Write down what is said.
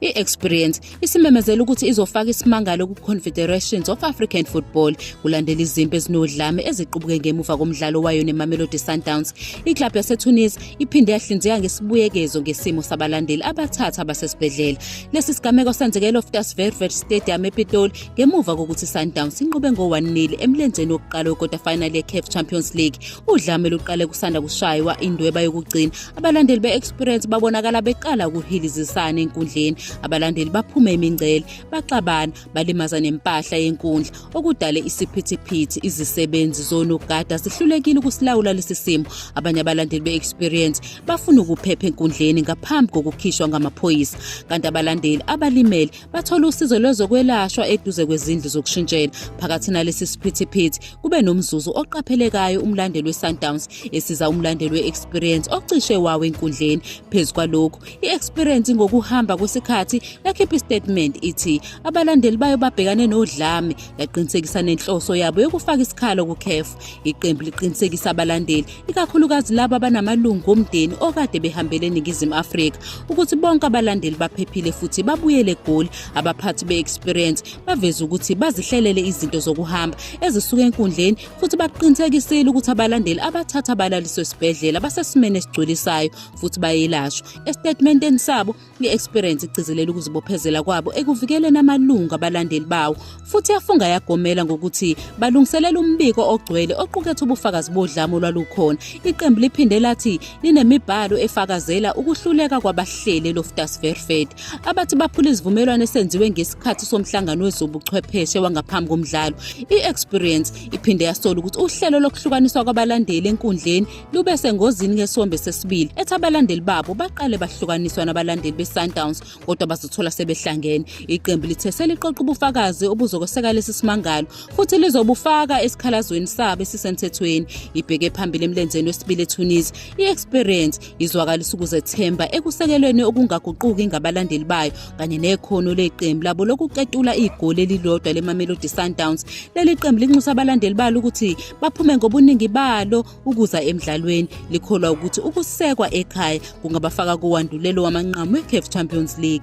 I-Experience isimemezela ukuthi izofaka isimangalo ku-Confederations of African Football kulandela izimpi ezinodlame eziqubuke ngemuva komdlalo wayo neMamelodi Sundowns. Iklabhu yaseTunis iphinde yahlinzeka ngesibuyekezo ngesimo sabalandeli abathatha abasesibhedlela. Lesi sigameko senzeke eLoftus Vervet Stadium ePitoli ngemuva kokuthi iSundowns inqobe ngo-1-0 emlenzeni wokuqala wekota final yeCAF Champions League. Udlame luqale kusanda kushaywa indweba yokugcina abalandeli be-experience babonakala beqala ukuhilizisana enkundleni abalandeli baphume imingcele baxabana balimaza nempahla yenkundla okudale isiphithiphithi izisebenzi zonogada zihlulekile ukusilawula lesi simo abanye abalandeli be-experience bafuna ukuphepha enkundleni ngaphambi kokukhishwa ngamaphoyisa kanti abalandeli abalimele bathole usizo lwezokwelashwa eduze kwezindlu zokushintshela phakathi nalesi siphithiphithi kube nomzuzu oqaphelekayo umlandeli we-sundowns esiza umlandeli we-experience ocishe wawo enkundleni phezu kwalokhu i-experience ngokuhamba kwesikhathi yakhipha istatement ithi abalandeli bayo babhekane nodlame yaqinisekisa nenhloso yabo yokufaka isikhala kucaf iqembu liqinisekisa abalandeli ikakhulukazi laba abanamalungu omndeni okade behambele eningizimu afrika ukuthi bonke abalandeli baphephile futhi babuyele egoli abaphathi be-experience baveze ukuthi bazihlelele izinto zokuhamba ezisuka enkundleni futhi baqinisekisile ukuthi abalandeli abathatha abalaliswe esibhedlela basesimeni esigculisayo futhi bayelashwa esitatimendeni sabo I-Experience igcizelela ukuzibophezela kwabo ekuvikeleni amalungu abalandeli bawo futhi yafunga yagomela ngokuthi balungiselela umbiko ogcwele oqukethe ubufakazi bodlame olwalukhona. Iqembu liphinde lathi linemibhalo efakazela ukuhluleka kwabahleli Loftus Verfed abathi baphula izivumelwano esenziwe ngesikhathi somhlangano wezobuchwepheshe wangaphambi komdlalo. I-Experience iphinde yasola ukuthi uhlelo lokuhlukaniswa kwabalandeli enkundleni lube sengozini ngesombe sesibili ethi abalandeli babo baqale bahlukaniswa nabalandeli be-sundowns kodwa bazothola sebehlangene iqembu lithe seliqoqa ubufakazi obuzokweseka lesi simangalo futhi lizobufaka esikhalazweni sabo esisemthethweni ibheke phambili emlenzeni wesibili etunisi i-experience izwakalisa ukuzethemba ekusekelweni okungaguquki ngabalandeli bayo kanye nekhono leqembu labo lokuqetula igoli elilodwa leMamelodi Sundowns. Leli qembu linxusa abalandeli balo ukuthi baphume ngobuningi balo ukuza emdlalweni. Likholwa ukuthi ukusekwa ekhaya kungabafaka kowandulelo wamanqamu weCAF Champions League.